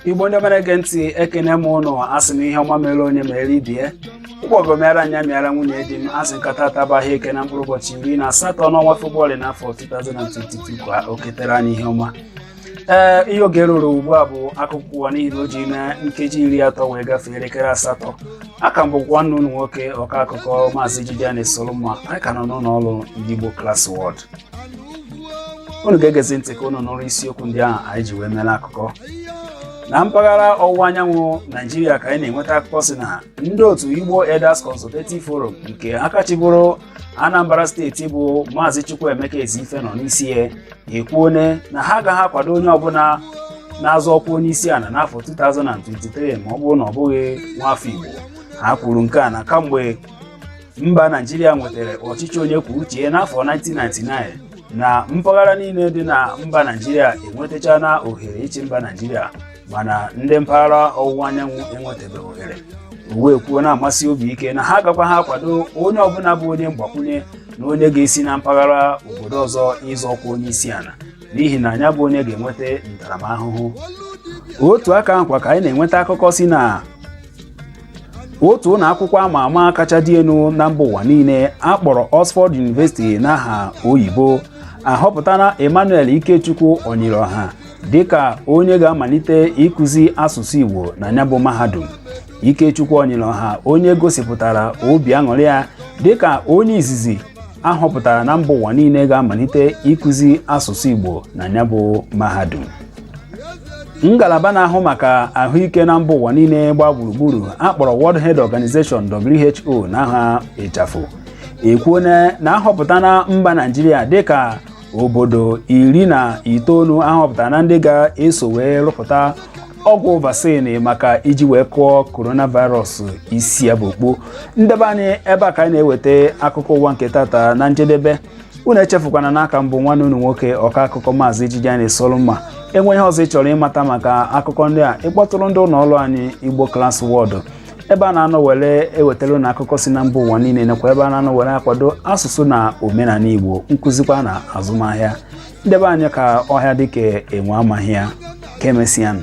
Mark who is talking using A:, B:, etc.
A: igbo ndị ọma na-ege ntị ekene m ụnụ asị m ihe ọma mere onye mere ibe ya ụgbọgọ mịara m nya mịara nwunye di m asị m ka tata bụ eke na mkpụrụ ụbọchị iri na asatọ n'ọnwa Febụwarị n'afọ 2022 ka o ketere anyị ihe ọma ee ihe oge ruru ugbu a bụ akụkọ ụwa n'ihi na o jina nkeji iri atọ wee gafee elekere asatọ a ka m bụkwa nwanne unu nwoke ọka akụkọ maazị Jideon Solomon anyị ka nọ n'ụlọ ọrụ ndị Igbo Class World unu ga-egezi ntị ka unu nụrụ isiokwu ndị ahụ anyị ji wee mere akụkọ na mpaghara ọwụwa anyanwụ naijiria ka anyị na-enweta akụkọ si na ndị otu Igbo Elders Consultative Forum nke aka chịbụrụ Anambra steeti bụ Maazị Chukwuemeka Ezeife nọ n'isi ya ekwuone na ha agaghị akwado onye ọbụla na-azọ ọkwa onye isi ala n'afọ 2023 ma ọ bụrụ na ọ bụghị nwafọ Igbo ha kwuru nke a na kamgbe mba Naijiria nwetara ọchịchị onye kwuo uche ya n'afọ 1999 na mpaghara niile dị na mba Naijiria enwetachana ohere ịchị mba Naijiria mana ndị mpaghara ọwụwa anyanwụ enwetabeghị ohere o wee kwuo na-amasị obi ike na ha agakwaha akwado onye ọbụla bụ onye mgbakwunye na onye ga-esi na mpaghara obodo ọzọ ịzọ ọkwa onye isi ala n'ihi na ya bụ onye ga-enweta ntaramahụhụ otu aka ahụkwa ka anyị na-enweta akụkọ si na otu ụlọ akwụkwọ ama ama kacha dị elu na mba ụwa niile a kpọrọ Oxford University n'aha oyibo ahọpụtana Emmanuel Ikechukwu Onyirioha dịka onye ga-amalite ịkụzi asụsụ Igbo na ya bụ mahadum Ikechukwu Onyirioha onye gosipụtara obi aṅụrị ya dịka onye izizi ahọpụtara na mba ụwa niile ga-amalite ịkụzi asụsụ Igbo na ya bụ mahadum ngalaba na-ahụ maka ahụike na mba ụwa niile gbaa gburugburu akpọrọ World Health Organization WHO n'aha ịchafụ ekwuona na ahọpụtana mba Naijiria dịka obodo iri na itoolu ahọpụtara na ndị ga-eso wee rụpụta ọgwụ vaccine maka iji wee kụọ coronavirus isi ya bụ okpo ndị be anyị ebe a ka anyị na-eweta akụkọ ụwa nke tata na njedebe unu echefukwana na a ka m bụ nwanne unu nwoke ọka akụkọ maazị ijiji anyị solumma e nwee ihe ọzọ ị chọrọ ịmata maka akụkọ ndị a ị kpọtụrụ ndị ụlọ ọrụ anyị Igbo Class World ebe a na-anọ were ewetara unu akụkọ si na mba ụwa niile nakwa ebe a na-anọ were akwado asụsụ na omenala igbo nkụzikwa na azụmahịa ndị be anyị ka ọhịa dị ka enwe amagha ya ka emesịanụ